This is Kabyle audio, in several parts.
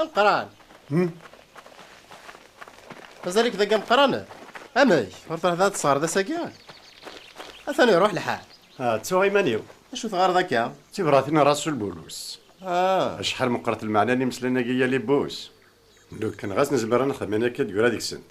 Ameqran. Hmm? Mazal-ik deg ameqran? Amek? Ur tṛuḥeḍ ad tesɣereḍ ass-agi? Atan iruḥ lḥal. Ah, ttuɣ iman-iw. Acu tɣareḍ akka? D tibratin n Rasul Bulus. Ah. Acḥal meqqret lmeɛna n imeslayen-agi yal ibbus. Lukan ɣas nezmer ad nexdem ayen akka d-yura deg-sent.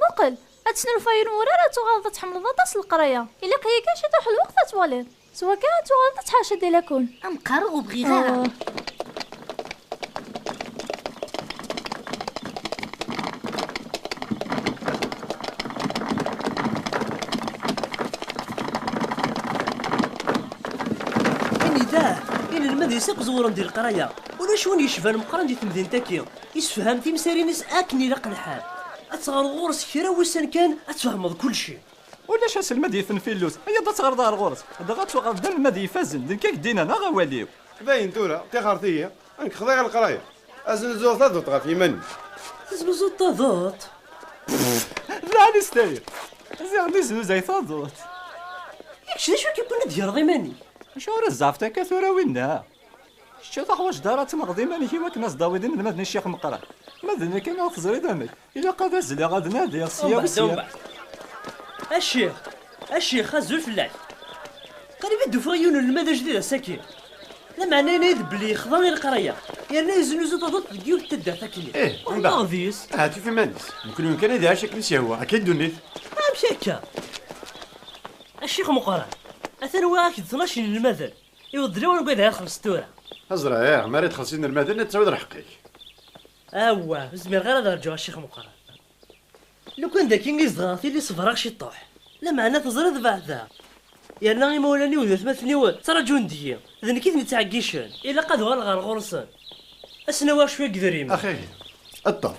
Muqel! Ad tesnulfayeḍ yiwen wurar ad tuɣaleḍ ad tḥemmleḍ aṭas leqraya. Ilaq-iyi kan ciṭuḥ n lweqt ad twaliḍ. S wakka ad tuɣaleḍ ad tḥerceḍ di lakun. Ad m-qqareɣ ur bɣiɣ ara. Anida! Inelmaden-is akk ẓewren di leqraya. Ulac win yecban Meqqran di temdint-agi. Issefham timsirin-is akken ilaq lḥal. Ad teɣreḍ ɣur-s kra n wussan kan, ad tfehmeḍ kulci. Ulac aselmad yifen filus, iyyaḍ ad teɣreḍ ɣer ɣur-s, dɣa ad tuɣaleḍ d anelmad ifazen, d nekk i k-d-innan, aɣ awal-iw. Dayen tura, ṭixret-iyi, nekk xḍiɣ i leqraya. Aznuzuɣ taduṭ ɣef yiman-iw. Teznuzuḍ taduṭ? Pff! Lɛali s tayri! Ziɣen yeznuzay taduṭ! I kečč d acu i k-iwwin ad d-greḍ iman-ik? Acuɣer i tzeɛfeḍ akka tura a winna? Kečč ur teḥwaǧeḍ ara ad tenɣeḍ iman-ik i wakken ad s-d-tawiḍ inelmaden i Ccix Meqqran. Ma d nekk anaɣ teẓriḍ amek, ilaq ad azzleɣ ad nadiɣ sya u sya. Umbeɛd, umbeɛd. A Ccix, a Ccix, azul fell-ak. Qrib i d-ufiɣ yiwen unelmad ajdid ass-agi. Lameɛna yenna-yi-d belli yexḍa i leqraya yerna yeznuzu taduṭ deg yiwet n taddart akkenni. Ih, umbeɛd. Ahat yufa iman-is. Nekkni ur kan ad iɛic akken i s-yehwa, akka i ddunit. Amek akka? A Ccix Meqqran, atan wwiɣ-ak-d tnac n yinelmaden. Iweddel ur ugad ara xelleṣ tura. Azraɛ, mi ara d-xelleṣ inelmaden ad d-tawiḍ lḥeqq-ik. Awah, ur zmireɣ ara ad rǧuɣ a Ccix Meqqran. Lukan d akin i zedɣeɣ tili ṣebreɣ ciṭuḥ. Lameɛna teẓriḍ beɛdeɣ. Yerna imawlan-iw d atmaten-iw ttraǧun deg-i, d nekk i ten-ittɛeggicen. Ilaq ad uɣaleɣ ɣer ɣur-sen, ad sen-awiɣ cwiya n yedrimen. Axir, ṭṭef,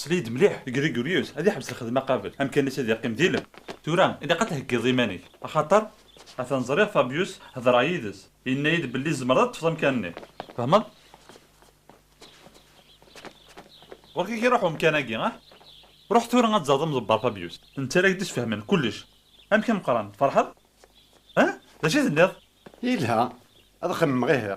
Sel-iyi-d mliḥ. Grigorius ad iḥbes lxedma qabel, amkan-is ad iqqim d ilem. Tura, ilaq ad theggiḍ iman-ik. Axaṭer, atan ẓriɣ Fabius, hedreɣ yid-s, yenna-yi-d belli tzemreḍ ad teṭṭfeḍ amkan-nni. Tfehmeḍ? Ɣur-k ad k-iruḥ umkan-agi, ah? Ruḥ tura ad tẓereḍ amḍebber Fabius. Netta la ak-d-isfehmen kullec. Amek a Meqqran, tferḥeḍ? Ah? D acu i tenniḍ? Yelha, ad xemmemeɣ ihi.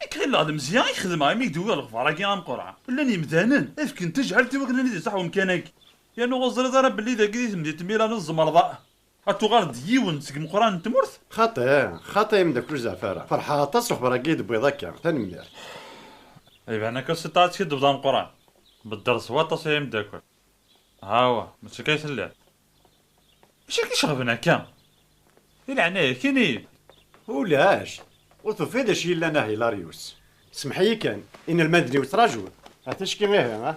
Nekk ɣilleɣ lemzeyya i k-xedmeɣ imi i k-d-uwiɣ lexbar-agi ameqqran, llan yemdanen i fken tajɛelt i wakken ad nid-iṣaḥ wemkan-agi, yernu ur teẓriḍ ara belli dagi di temdint n Milano tzemreḍ a ad tuɣaleḍ d yiwen seg imeqqranen n tmurt? Xaṭi, xaṭi ay ameddakel ur zeɛɛef ara, feṛḥeɣ aṭas s lexbar-agi i yi-d-tewwiḍ akka, tanemmirt. Iban akka s tiṭ ara teskiddbeḍ ameqqran, bedder s waṭas ay ameddakel. Hawa, mačči akka ay telliḍ. Acu i k-iceɣben akka? Di leɛnaya-k, ini-yi-d. Ulac, ur tufiḍ d acu yellan a Hilarius? Semmeḥ-iyi kan, inelmaden-iw ttrajun. Ah, ticki ihi, ah?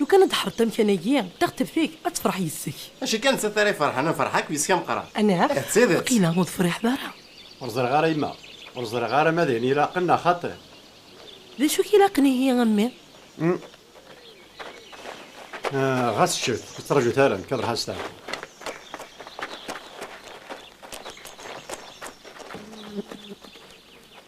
Lukan ad tḥerreḍ amkan-agi, taɣteft-ik ad tefreḥ yis-k. Mačči kan nettat ara iferḥen, ad nferḥ akk yis-k a Meqqran. Anɛam, Eh, d tidet! waqila ur tefriḥeḍ ara. Ur ẓriɣ ara yemma. Ur ẓriɣ ara ma d ayen ilaqen neɣ xaṭi. D acu i k-ilaqen ihi a mmi? Uhm. Eh, ɣas ččet, ur ttṛaǧut ara, nekk ad ṛuḥeɣ steɛfu.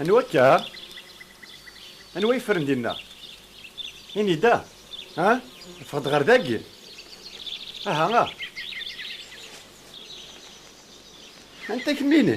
Anwa akka? Anwa yefren dinna? Ini-d, ah, ah, ffeɣ-d ɣer dagi. Aha, ah. Anta kemmini?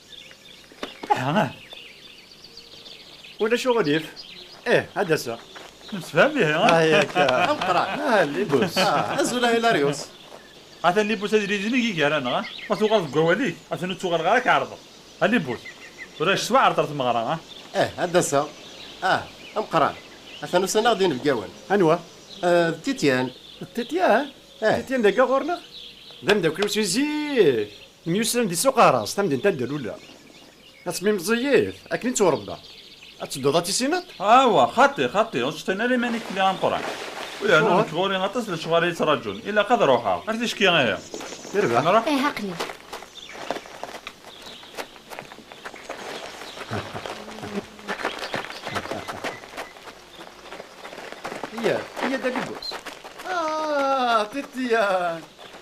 Aha. Ulac uɣilif. Eh, ad d-aseɣ. Nemsefham ihi, ha? Ah, yak. Amqran. Ah, libus. Ah, azul a Hilarius. Atan libus ad yili dinig i gar-aneɣ, ha? Ma tuɣaleḍ deg wawal-ik, atan ur tuɣaleɣ ara ad k-ɛerḍeɣ. A libus, ulac s waɛreḍ ar tmeɣra, ha? Eh, ad d-aseɣ. Ah, amqran. Atan usan-aɣ-d yinebgawen. Anwa? Eh, d Tityan. D Tityan? Eh. Tityan d agga ɣur-neɣ? D ameddakel-iw si zik. Myussan di Suq Aras, tamdint anda luleɣ. Ad tmmi meẓẓiyit, akken i tturebbaɣ. Ad tedduḍ ad tissineḍ? Awa, xaṭi, xaṭi, ur ttseṭṭin ara iman-ik fell-i a Meqqran. U yernu nekk ɣur-i aṭas n lecɣal i yi-ttraǧun, ilaq ad ruḥeɣ. Ar ticki ihi! Irbeḥ! Nruḥ? Ih, aql-i. Yya-d, yya-d a Lubus. Ah, Tirtiyan!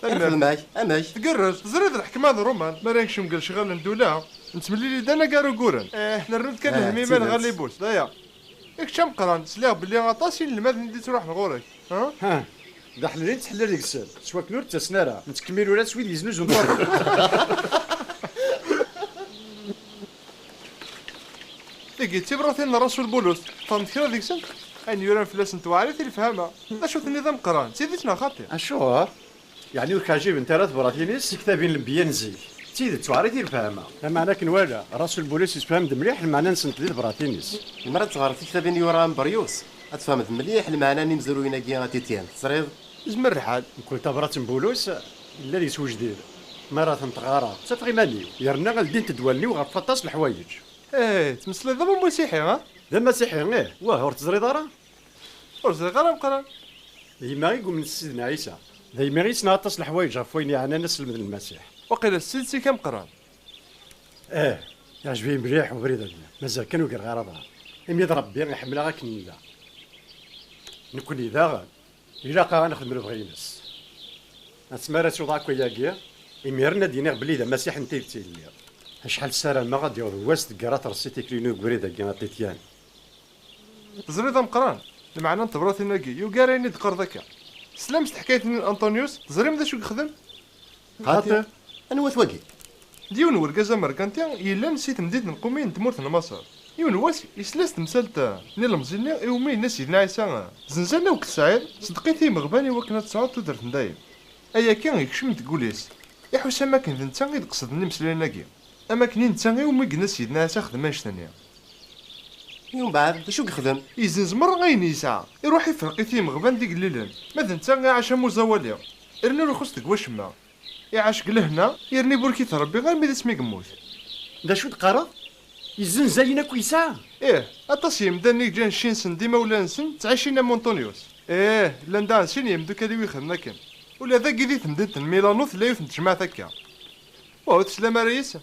Tanemmirt. Amek? Amek? Tgerrez, teẓriḍ lḥekma d Roman, mi ara nekcem deg lecɣal n ddula, nettemlili-d anagar uguren, eh, nernu-d kan Ah, lehmima tidet. lɣalibut, d aya. I kečč ameqqran, sliɣ belli aṭas inelmaden i d-ittruḥen ɣur-k, ha? Ha, d aḥlel i nettḥellil deg-sen, s wakken ur d-ttasen ara, nettkemmil ula s wid yeznuzun ṭṭabla. Tigi d tibṛatin n Rasul Bulus, qqaren-d kra deg-sent, ayen yuran fell-asent weɛrit i lefhama, d acu tenniḍ a Meqqran, d tidet neɣ xaṭi? Acuɣer? Yeɛni ur k-ɛjibent ara tebṛatin-is i ktab-in n lenbeyya n zik? D tidet weɛrit i lefhama. Lameɛna akken wala, Rasul Bulus yessefham-d mliḥ lmeɛna-nsent di tebṛatin-is. Lemmer ad teɣreḍ tiktabin yura a Meberyus, ad tfehmeḍ mliḥ lmeɛna n yimezruyen-agi a Tityen. Teẓriḍ? Yezmer lḥal. Mkul tabṛat n Bulus, Yella deg-s wejdid, mi ara tent-ɣareɣ, ttafeɣ iman-iw, yerna ad ldint-d wallen-iw ɣef waṭas n leḥwayeǧ. Ehh, tettmeslayeḍ am umasiḥi, ah? D amasiḥi, ih. Wah, ur teẓriḍ ara? Ur ẓriɣ ara Meqqran. D yemma i yumnen s Sidna Ɛisa. D aymi i yesneɣ aṭas n leḥwayeǧ ɣef wayen yeɛnan aselmed n Lmasiḥ. Waqila s tidet-ik a Meqqran? Ehh, iɛǧeb-iyi mliḥ ubrid agi. Mazal kan ur greɣ ara aḍar. Imi d Ṛebbi i ḥemmleɣ akken nella nekkni daɣen. Ilaq-aɣ ad nexdem lebɣi-ines. Asmi ara ttuɣ akk ayagi, imiren ad d-iniɣ belli d amasiḥ n tidet i lliɣ. Acḥal ssarameɣ ad d-yaweḍ wass deg ara terṣi tikli-inu deg ubrid-agi a Titian. Teẓriḍ a Meqqran, lmeɛna n tebṛatin-agi yugar ayen i d-teqqareḍ akka. Teslam s teḥkayt-nni n Antonius, teẓrim d acu i yexdem? Hater? Anwa-t wagi? D yiwen n urgaz amerkanti yellan si temdint n Qumi n tmurt n Maṣer. Yiwen n wass, yesla-as temsalt n ilemẓi-nni i wumi yenna Sidna Ɛisa, Zenza n Uked Saɛid, seddqit i yimeɣban i wakken ad tesɛuḍ tudert n dayem. Ayagi ikcem deg wul-is. Iḥus am wakken d netta i d qesden imeslayen-agi. Am wakken i netta i wumi yenna Sidna Ɛisa xdem annect-nni. I umbeɛd, d acu i yexdem? Yezzenz merra ayen yesɛa. Iruḥ ifreq-it i yimeɣban d igellilen. Ma d netta iɛac am uẓawali. Rnu ur ixuṣṣ deg wacemma. Iɛac deg lehna, yerna iburek-it Rebbi armi d asmi i yemmut. D acu i d-teqqareḍ? Yezzenz ayen akk yesɛa? Ih, aṭas n yimdanen i yeǧǧan cci-nsen d imawlan-nsen ttɛicin am Unṭunyus. Ih, llan daɣen sin n yimdukal-iw i ixedmen akken. Ula dagi di temdint n Milano tella yiwet n tejmaɛt akka. Waw, teslam ara yis-s?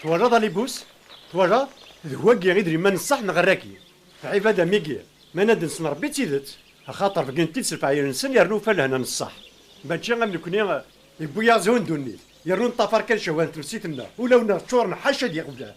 Twalaḍ alibus? Twalaḍ? D wagi i d liman ṣṣeḥ neɣ rraki. Ɛibad amigi, ma naden-sen Rebbi d tidet, axaṭer bgint-id s lefɛayel-nsen yernu ufa lehna n ṣṣeḥ. Mačči am nekni, yewwi-yaɣ zhu n ddunit, yernu neṭṭafar kan cehwa n tmessit-nneɣ, ulaw-nneɣ ččuren ḥaca d iɣeblan.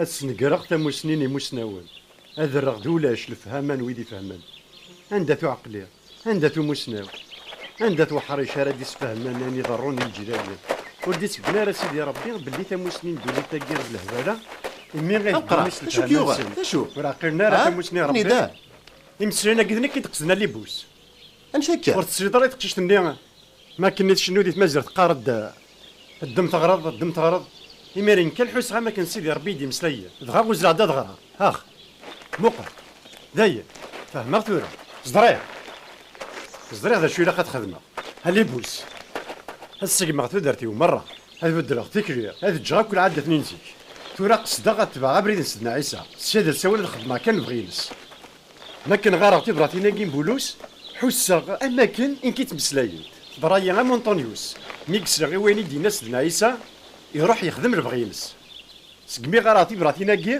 ad snegreɣ tamusni n imusnawen. Ad rreɣ d ulac lefhama n wid ifehmen. Anda-t uɛeqli? Anda-t umussnaw? Anda-t weḥric ara d-isfehmen ayen iḍerrun di leǧyal-nni? Ur d-ittebna ara Sidi Rebbi belli tamussni n ddunit-agi d lehbala, imi i heddun s lefhama-nsen ur ɛqilen ara tamussni n Rebbi. Imeslayen-agi d nekk i d-qesden alibus. Amek akka? Ur tesliḍ ara i teqcict-nni? Mi akken i tcennu di tmaziɣt teqqar-d, Ddem teɣreḍ, ddem teɣreḍ. Imiren kan ḥusseɣ am akken Sidi Rebbi i d-imeslay. Dɣa uzzleɣ-d ad ɣreɣ. Ax! Muqel! Dayen! Fehmeɣ tura. Ẓriɣ! Ẓriɣ d acu ilaq ad xedmeɣ. Alibus! Ad ssegmeɣ tudert-iw merra, ad beddleɣ tikli, ad ǧǧeɣ akk lɛadat-nni n zik. Tura qesdeɣ ad tebɛeɣ abrid n Sidna Ɛisa, sya d asawen ad xedmeɣ kan lebɣi-ines. Ma akken ɣareɣ tibratin-agi n Bulus, ḥusseɣ am akken i nk-id-ttmeslayent. Teḍra-yi am Unṭunyus, mi yesleɣ i wayen i d-yenna Sedna Ɛisa, iruḥ yexdem lebɣi-ines. Segmi ɣareɣ tibratin-agi,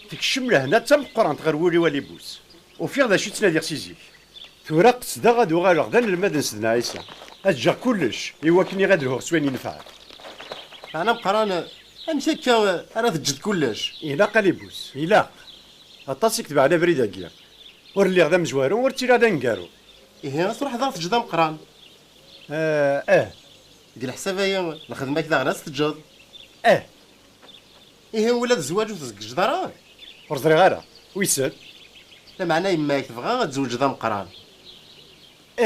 tekcem lehna d tameqqrant ɣer wul-iw a Libus. Ufiɣ d acu i ttnadiɣ si zik. Tura qesdeɣ ad uɣaleɣ d anelmad n Sedna Ɛisa, ad ǧǧeɣ kullec i wakken i ad lhuɣ s wayen inefɛen. Meɛna ameqqran, amek akka ara teǧǧeḍ kullec? Ilaq a Libus, ilaq. Aṭas i ketbeɛen abrid-agi. Ur lliɣ d amezwaru, ur ttiliɣ d aneggaru. Ihi ad truḥeḍ ad ɣ-teǧǧeḍ ameqqran? Ah, ah. Deg leḥsab-ayi, lxedma-k daɣen ad tt-teǧǧeḍ? Ah. Ihi ula d zzwaǧ ur t-tzeggjeḍ ara? Ur ẓriɣ ara. Wissen. Lameɛna yemma-k tebɣa ad tzewǧeḍ ameqqran?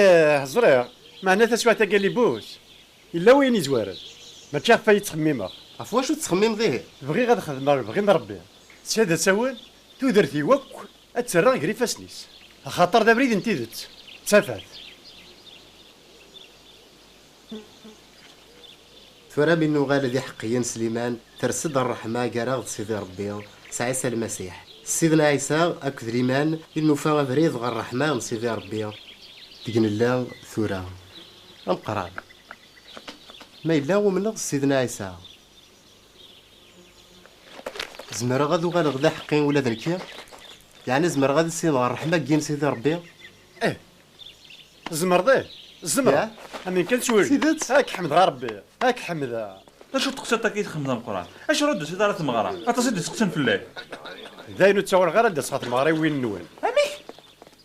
Ah, ẓriɣ. Meɛna taswiɛt-agi a Libus, Yella wayen yezwaren, mačči ɣef waya i ttxemmimeɣ. Ɣef wacu tettxemmimeḍ ihi? Bɣiɣ ad xedmeɣ lebɣi n Rebbi, ttxil ad tawel tudert-iw akk ad tt-rreɣ ger ifassen-is, axaṭer d abrid n tidet, d tafat. Tura mi nuɣal d iḥeqqiyen Sliman, ters-d rreḥma gar-aɣ d Sidi Rebbi, s Ɛisa Lmasiḥ. S Sidna Ɛisa akked liman i nufa abrid ɣer rreḥma n Sidi Rebbi deg nella tura. Ameqqran, ma yella umneɣ Sidna Ɛisa, zemreɣ ad uɣaleɣ d aḥeqqi ula d nekki? Yeɛni zemreɣ ad issineɣ rreḥma n Sidi Rebbi? Ih, tzemreḍ, ih, zemreɣ. Amin kan ttwil. D tidet? Ad k-ḥemdeɣ a Rebbi, ad k-ḥemdeɣ. D acu teqsiḍt akka i txemmdeḍ Ameqqran? Acu ur d-tusiḍ ara ɣer tmeɣra? Aṭas i d-isteqsan fell-ak. Dayen ur ttawaleɣ ara ad d-aseɣ ɣer tmeɣra i win-nwen. Amek?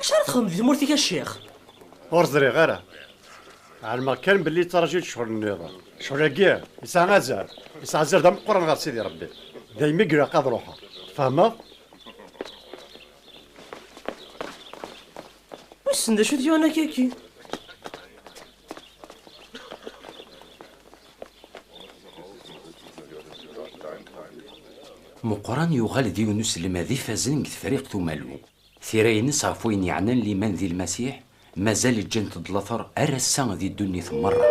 Acu ara txedmeḍ di tmurt-ik a ccix? Ur ẓriɣ ara. Ɛelmeɣ kan belli yettṛaju-d ccɣel nniḍen. Ccɣel-agi yesɛa azal. Yesɛa azal d ameqqran ɣer Sidi Rebbi. Daymi i ilaq ad ruḥeɣ. Tfehmeḍ? Wissen d acu t-yuɣen akka-agi? Meqqran yuɣal d yiwen uselmad ifazen deg Tefriqt Umalu. Tira-nnes ɣef wayen yeɛnan liman di Lmasiḥ mazal ǧǧant-d later ar ass-a di ddunit merra.